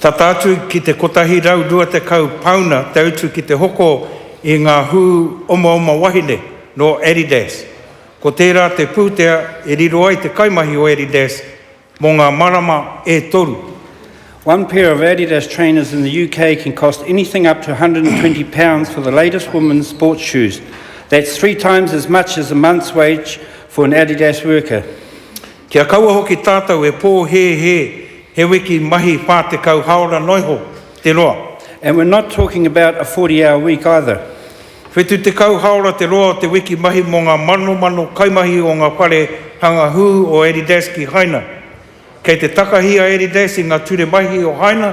Tata atu ki te 120 pāuna te utu ki te hoko i ngā hū omaoma wahine nō Adidas. Ko tērā te pūtea e riro ai te kaimahi o Adidas mō ngā marama e toru. One pair of Adidas trainers in the UK can cost anything up to £120 for the latest women's sports shoes. That's three times as much as a month's wage for an Adidas worker. Kia kaua hoki tātou e pōhēhē he wiki mahi 40 haora noa iho te roa. And we're not talking about a 40 hour week either. Whetū tekau haora te roa o te wiki mahi mō ngā manomano kaimahi o ngā whare hanga hū o Eridas ki Haina. Kei te takahi a Eridas i ngā ture mahi o Haina,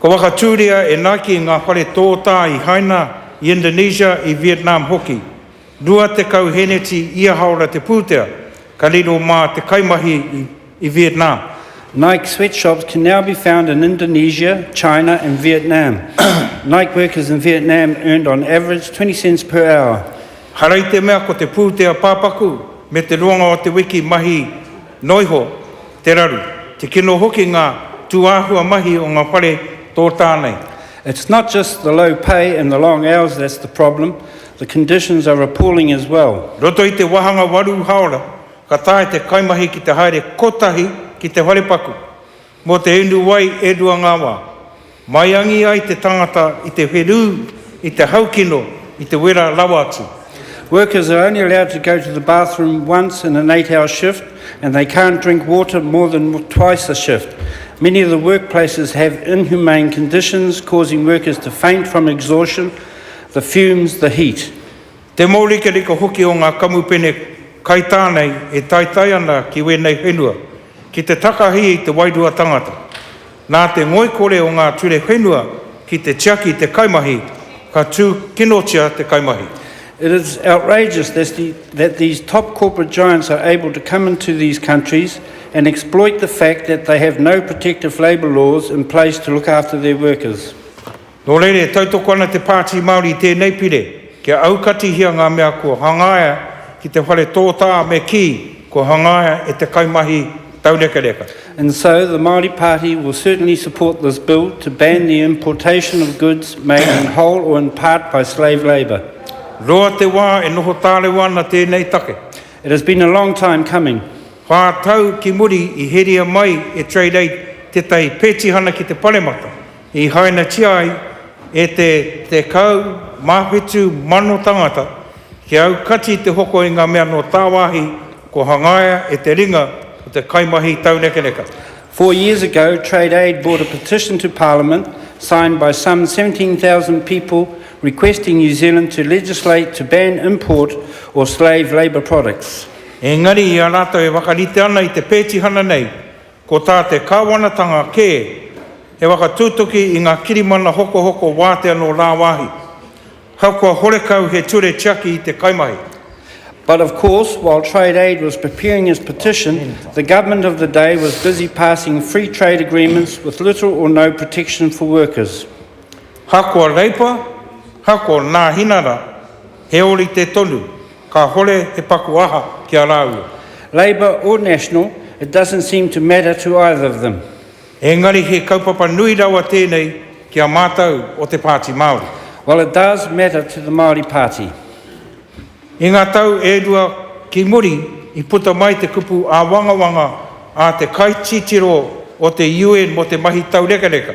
Ka whakatūria e Nike ngā whare tōtā i Haina, i Indonesia, i Vietnam hoki. Rua tekau hēneti ia hāora te pūtea, ka riro mā te kaimahi i Vietnam. Nike sweatshops can now be found in Indonesia, China and Vietnam. Nike workers in Vietnam earned on average 20 cents per hour. Harai te mea ko te pūtea pāpaku me te roanga o te wiki mahi. Noa iho, te raru, te kino hoki ngā tūāhua mahi o ngā whare tōtā nei. It's not just the low pay and the long hours that's the problem, the conditions are appalling as well. Roto i te wāhanga waru haora, ka taea te kaimahi ki te haere kotahi ki te wharepaku. Mō te inu wai e rua ngā wā. Maiangi ai te tangata i te wherū, i te haukino, i te wera rawa atu. Workers are only allowed to go to the bathroom once in an eight hour shift and they can't drink water more than twice a shift. Many of the workplaces have inhumane conditions causing workers to faint from exhaustion, the fumes, the heat. Te mōrikarika hoki o ngā kamupene kaitā nei e taetae ana ki wēnei whenua ki te takahia i te wairua tangata. Nā te ngoikore o ngā ture whenua ki te tiaki i te kaimahi, ka tūkinotia te kaimahi. It is outrageous that these top corporate giants are able to come into these countries and exploit the fact that they have no protective labour laws in place to look after their workers. Nō reira e tautoko ana te Pāti Māori i tēnei pire kia aukatihia ngā mea kua hangaia ki te whare tōtā me kī kua hangaia e te kaimahi taurekareka. And so the Māori Party will certainly support this bill to ban the importation of goods made in whole or in part by slave labour. Roa te wā e noho tārewa ana tēnei take. It has been a long time coming. Whā tau ki muri i heria mai e Trade Aid tētahi pētihana ki te Paremata. I hainatia ai e te 17 mano tangata kia aukati te hoko i ngā mea nō tāwāhi kua hangaia e te ringa o te kaimahi taunekeneka. Four years ago, Trade Aid brought a petition to Parliament, signed by some 17,000 people, requesting New Zealand to legislate to ban import or slave labour products. Engari, i a rātou e whakarite ana i te pētihana nei, Ko tā te kāwanatanga kē, he whakatutuki i ngā kirimana hokohoko wātea nō rāwāhi, ahakoa horekau he ture tiaki i te kaimahi. But of course, while Trade Aid was preparing its petition, the government of the day was busy passing free trade agreements with little or no protection for workers. Ahakoa Reipa, ahakoa Nāhinara, He orite tonu, kahore he paku aha ki a raua. Labour or National, it doesn't seem to matter to either of them. Engari he kaupapa nui rawa tenei ki a matou o te Paati Maori. Well it does matter to the Maori Party. I nga tau e rua ki muri i puta mai te kupu awangawanga a te kaititiro o te UN mo te mahi taurekareka.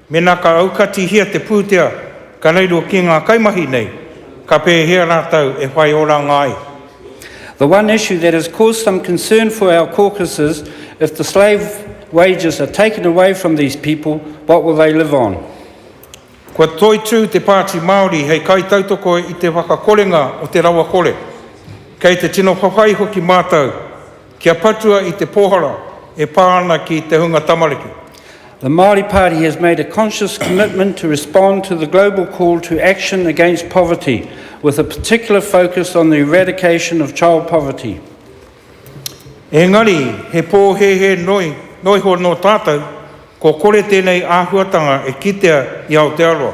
Mēnā ka aukatihia te pūtea ka reiro ki ngā kaimahi nei, ka pēhea rātou e whai oranga ai? The one issue that has caused some concern for our caucuses, if the slave wages are taken away from these people, what will they live on? Kua toitū te Pāti Māori hei kaitautoko i te whakakorenga o te rawakore. Kei te tino whawhai hoki mātou. Kia patua i te pōhara e pā ana ki te hunga tamariki. The Māori Party has made a conscious commitment to respond to the global call to action against poverty, with a particular focus on the eradication of child poverty. Engari, he pōhēhē noi, noiho nō tātou, kua kore tēnei āhuatanga e kitea i Aotearoa.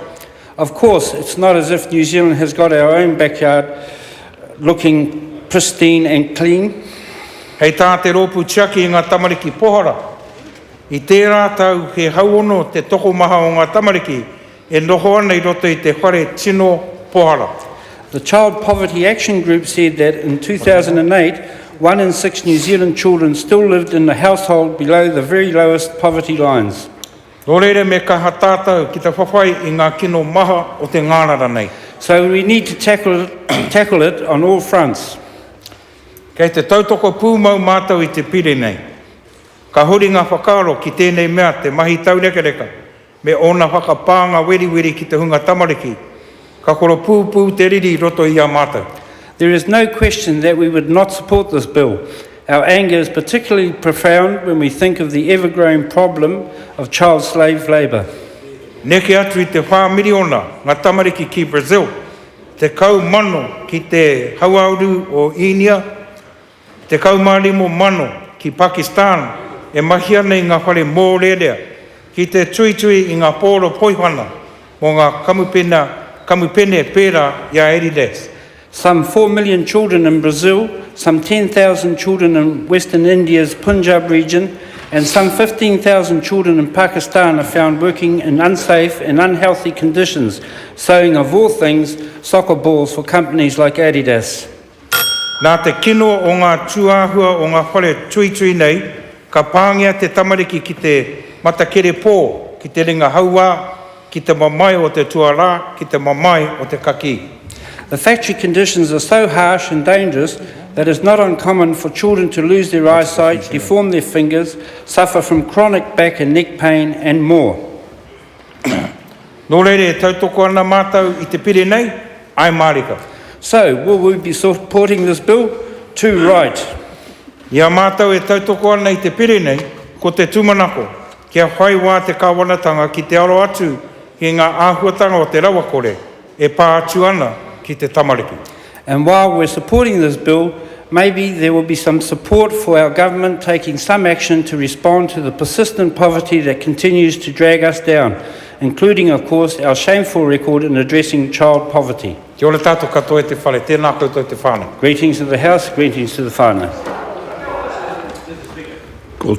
Of course, it's not as if New Zealand has got our own backyard looking pristine and clean. Hei tā te Rōpū Tiaki i ngā Tamariki Pohara, i tērā tau he hauono te tokomaha o ngā tamariki e noho ana i roto i te whare tino pohara. The Child Poverty Action Group said that in 2008, one in six New Zealand children still lived in a household below the very lowest poverty lines. Nō reira me kaha tātou ki te whawhai i ngā kino maha o te ngārara nei. So we need to tackle tackle it on all fronts. Kei te tautoko pūmau mātou i te Pire nei. Ka huri ngā whakaaro ki tēnei mea te mahi taurekareka me ōna whakapānga weriweri ki te hunga tamariki Ka koropūpū te riri i roto i a mātou. There is no question that we would not support this bill. Our anger is particularly profound when we think of the ever-growing problem of child slave labour. Neke atu i te whā miriona ngā tamariki ki Brazil, tekau mano ki te hauāuru o Īnia, Tekau mā rimo mano ki Pakistan e mahi ana i ngā whare mōrearea ki te tuitui i ngā pōro poihana mō ngā kamupena kamupene pērā i a Adidas. Some four million children in Brazil, some ten thousand children in western India's Punjab region and some fifteen thousand children in Pakistan are found working in unsafe and unhealthy conditions, sewing of all things, soccer balls for companies like Adidas. Nā te kino o ngā tūāhua o ngā whare tuitui nei, ka pāngia te tamariki ki te matakere pō, ki te ringa hauā, ki te mamae o te tuarā, ki te mamae o te kakī. The factory conditions are so harsh and dangerous that it's not uncommon for children to lose their eyesight, deform their fingers, suffer from chronic back and neck pain and more. Nō reira e tautoko ana mātou i te pire nei, ae mārika. So, will we be supporting this bill? Too right. I a mātou e tautoko ana i te pire nei, ko te tūmanako, kia whai wā te Kāwanatanga ki te aro atu i ngā āhuatanga o te rawakore, e pā atu ana ki te tamariki. And while we're supporting this bill, maybe there will be some support for our government taking some action to respond to the persistent poverty that continues to drag us down, including of course our shameful record in addressing child poverty. Kia ora tātou katoa e te whare, tēnā koutou te whānau. Greetings to the House, greetings to the whānau.